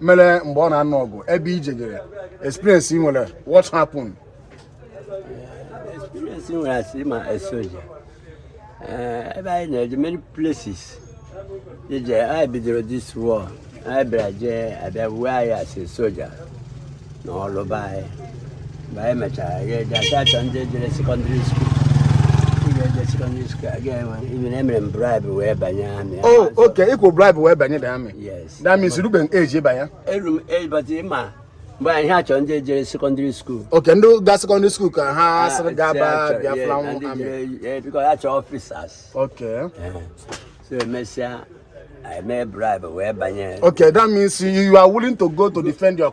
mere mgbe a na-anụ ọgụ ebe i jejere experience ị nwere what happened experience ị nwere as a soja eh, ebe anyị na-eje many places ije anyị bidoro this war anyị bịara jee abịa wuo anyị as soja na Ọlụ ba anyị mgbe anyị mechara ya eje asa achọ ndị jere sekọndịrị skuul secondary school again even emere m bribe wee banye amị oh okay ị kwụ bribe wee banye the army yes That means i rubeghị age ịba ya? Eru m age but ị ma mgbe anyị ha chọrọ ndị jere sekọndịrị skuul. Ok, ndị ga sekọndịrị skuul ka ha ah, sịrị gaba Biafran amị. Eh, because ha chọrọ officers. Ok. Eh, so emesịa eme bribe wee banye. Ok, that means you are willing to go to defend your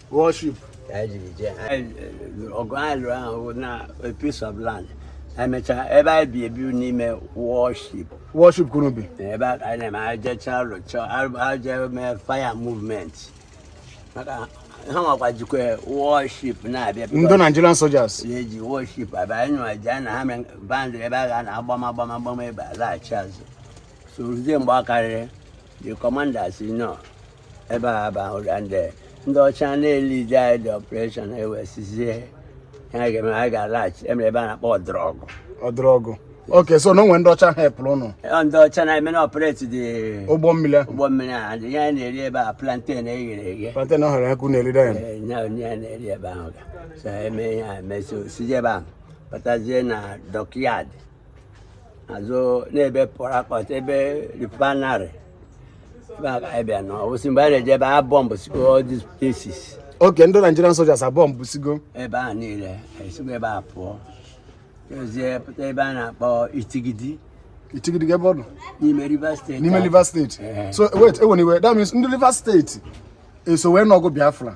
warship ọgụ alụ ahụ na a piece of land emechaa ebe anyị bi ebi n'ime warship warship ka unu bi ebe anyị na-eme ajecha rụcha aje mee fire movement maka ha nwakwa jikwa warship na-abịa ndị Nigerian soldiers na-eji warship abịa anyị nwa ji na ha mee bandị ebe a ga na-agbama agbama agbama ebe a laghachi azụ so ruzie mgbe ọ karịrị the commander si nọ ebe a bụ ahụ ga ndị ndị ọcha na-elidi anyị the operation ewesizie ha ga-eme anyị ga-alaghachi emere ebe a na-akpọ ọdụrọgụ ọdụrọgụ okay so o nwe ndị ọcha ha epụrụ ụnụ ndị ọcha na-eme na-operate the ụgbọ mmiri ụgbọ mmiri a dị ihe a na-eri ebe a planten eghere eghe planten ọhụrụ ya ka unu eride ya ya na-eri ebe ahụ ga so eme ya emesi osije ebe ahụ batazie na dockyard azụ n'ebe Port Harcourt ebe refinery abịa na osi mgbe a na-eje ebe a bọmbụsigo all these places okay ndị Nigerian soldiers abọmbụsigo ebe a niile esigo ebe a pụọzie pụta ebe a na-akpọ itigidi itigidi kee ebe ọ nọ n'ime Rivers State n'ime Rivers State so wait anyway that means ndị Rivers State eso wee nụọ ọgụ Biafra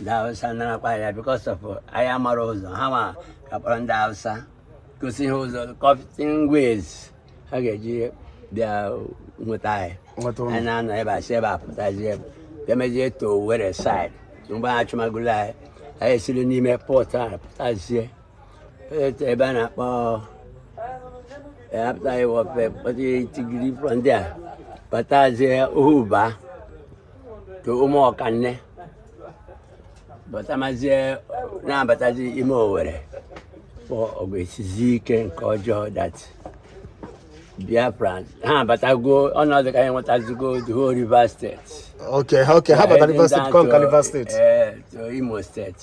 ndị Hausa narakwa ya because of anya mara ụzọ ha ma akpọrọ ndị Hausa gosi ha ụzọ kọftin ways ha ga-eji bịa nweta anyị anyị na-anọ ebe a si ebe a pụtazie emezie to Owerre side mgbe a chụmagolo anyị anyị esiri n'ime Port apụtazie ebe a na-akpọ apụta Iwọfe pụta itigidi from there abatazie ohuba to Ụmụọkanne batamazie na-abatazi ime Owerre for ọgụ esizi ike nke ọjọọ that Biafra ha abatago ọnọdụ ka anyị nwetazigo the whole River State okay okay ha batara River State conquer River State eh, to Imo State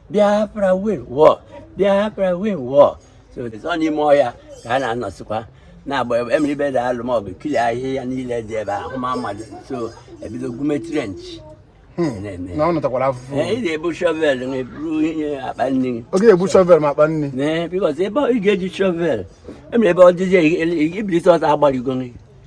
Biafra win war Biafra win war so ọ n'ime ọhịa ka a na-anọsịkwa na-agba emere ibe da alụ maọbụ clear ahịhịa niile dị ebe ahụ ma mmadụ so ebido gwume trench hmm. na ọ nụtakwara afụfụ ị na-ebu shovel na eburu ihe akpa nri ọ ga-ebu shovel ma akpa nri because ebe ị ga-eji shovel emere ebe ọ dịzi ebilite ọta agbarigo nri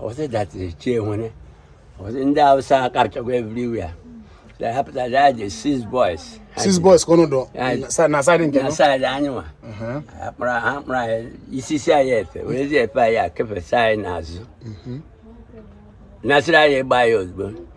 ọ sị that is Chinwere ọ sị ndị Hausa karịchakwa everywhere they happen that I just six boys six boys ka unu dọ na side nke na side anyị nwa akpara ha akpara anyị isisi anyị efe werezi efe anyị kefesa anyị n'azụ nasịrị anyị ịgba ya ozugbo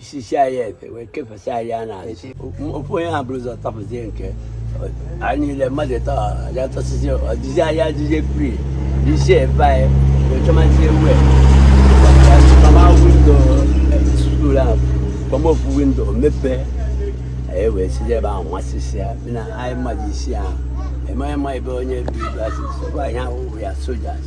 isisi anyị efe wee kefesa anyị aka n'azụ ofu onye ha buru ụzọ tọpụzie nke anyị niile mmadụ ịtọ aja tọsịzi ọdịzi anyị adịzie free isi efe anyị wee chọmazie ewu kpama window school ahụ kpama ofu window mepee anyị wee si ebe ahụ nwasịsị ya na anyị mmadụ isii ahụ eme ma ebe onye bi asị sọkwa anyị ahụhụ ya soldiers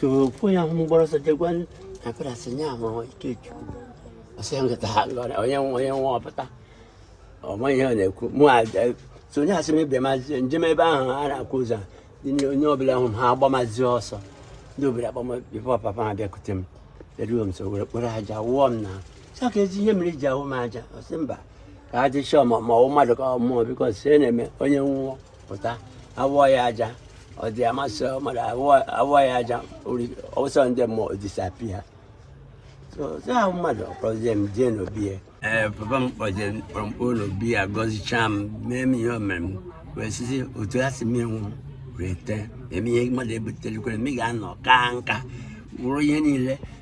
tupu ya hụ m gbara ọsọ je gwa akara sị ya ma Ikechukwu ọ sị ya nkịta ha lọrọ onye nwa onye nwa ọ pụta ọ ma ihe ọ na-ekwu mụ so onye asị m ebe mazi njem ebe ahụ a na-akwụ ụzọ onye ọbụla hụ m ha agbamazi ọsọ ndị obere agbama before papa ha bịakute m eruo m nso were kpụrụ aja wụọ m na sọ ka ezi ihe mere e ji awụ m aja ọ sị mba ka a dị sure ma ọ wụ mmadụ ka ọ mmụọ because ihe na-eme onye nwụọ pụta awụọ ya aja ọ dị amasị mmadụ awụọ ya aja o so ndị mmụọ ọ disappear ya mmadụ ọ kpọzie m jee n'obi ya ee papa m kpọjee m kpọ m kpọ n'obi ya gọzichaa m mee m ihe o mere m wee sisi otu ya si menwu wee tee eme ihe mmadụ ebuterekwere m ị ga-anọ kaa nka wụrụ ihe niile